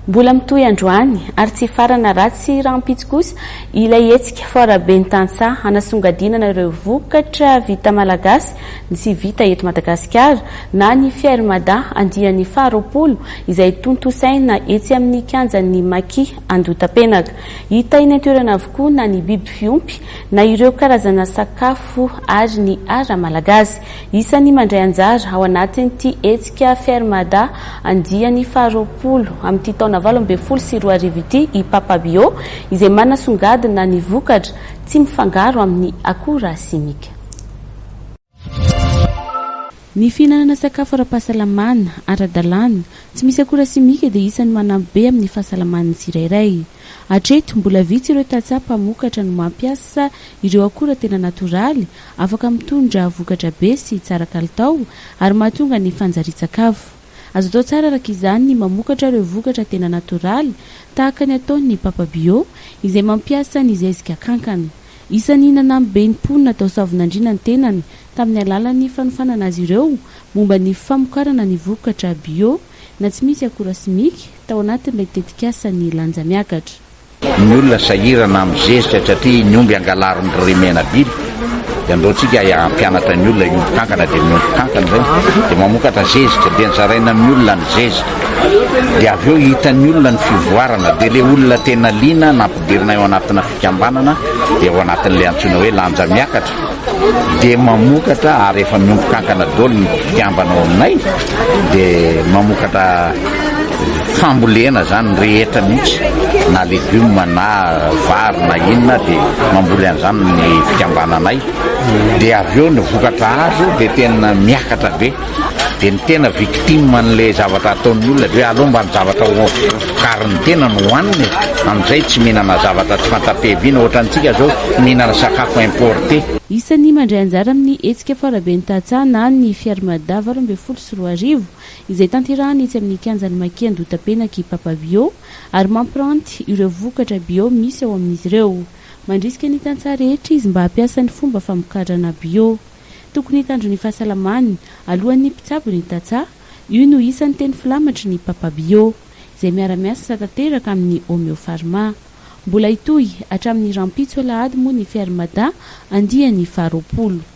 Mbola mitohy androany ary tsy hifarana ratsy rahampitso kosa ilay hetsika Foire Ben'ny Tantsaha hanasongadinana ireo vokatra vita malagasy sy vita eto Madagasikara na ny Fier Mada andiany faha roapolo izay tontosaina etsy amin'ny kianjan'ny Maki Andohatapenaka. Hita eny an-toerana avokoa na ny biby fiompy na ireo karazana sakafo ary ny ara-malagasy. Isan'ny mandray anjara ao anatin'ity hetsika Faire Mada andiany faharoapolo amin'ity taona valo ambin'ny folo sy roa arivo ity i Papa Bio izay manasongadina ny vokatra tsy mifangaro amin'ny akora simika. Ny fihinanana sakafo ara-pahasalamana, ara-dalàna, tsy misy akora simika dia isan'ny manampy be amin'ny fahasalaman'ny tsirairay. Hatreto, mbola vitsy ireo tantsaha mpamokatra no mampiasa ireo akora tena natoraly Afaka mitondra vokatra be sy tsara kalitao ary mahatonga ny fanjarian-tsakafo. Azo atao tsara araka izany ny mamokatra ireo vokatra tena natoraly tahaka ny ataon'ny Papa Bio izay mampiasa ny zezika kankana. Isan'ny nanamby be ny mponina tao Soavinandriana ny tenany tamin'ny alalan'ny fanofanana azy ireo momba ny famokarana ny vokatra bio na tsy misy akora simika tao anatin'ilay tetikasa Ny Lanja Miakatra. Ny olona sahirana amin'ny zezika satria ny omby angalarin'dry Remena Bill dia andraontsika hampianatra ny olona, ny omby kankana dia ny omby kankana izay dia mamokatra zezika dia zaraina amin'ny olona ny zezika dia avy eo hitan'ny olona ny fivoarana dia ilay olona tena liana nampidirina eo anatina fikambanana dia ao anatin'ilay antsoina hoe lanja miakatra. dia mamokatra ary efa miompy kankana daholo ny mpikambana ao aminay dia mamokatra fambolena zany ny rehetra mihitsy na legume na vary na inona dia mamboly an'izany ny fikambananay dia avy eo ny vokatra azo dia tena miakatra be dia ny tena victime an'ilay zavatra ataon'ny olona dia hoe aleo mba ny zavatra vokarin'ny tena no hohanina e, amin'izay tsy mihinana zavatra tsy fanta-piaviana ohatra antsika izao mihinana sakafo importé. Isan'ny mandray anjara amin'ny hetsika Faraben'ny Tantsaha na ny Fiarimada valo ambin'ny folo sy roa arivo izay tanterahina etsy amin'ny kianjan'i Makian-doha Itapenaky i Papa Bio ary mampiranty ireo vokatra bio misy ao amin'izy ireo. Mandrisika ny tantsaha rehetra izy mba hampiasa ny fomba famokarana bio. Tokony hitandro ny fahasalamany alohan'ny mpitsabo ny tantsaha, io no isan'ny teny filamatry ny Papa Bio, izay miara-miasa tanteraka amin'ny Homeopharma. Mbola hitohy hatramin'ny rahampitso alahady moa ny Ferre Mada andiany faharoapolo.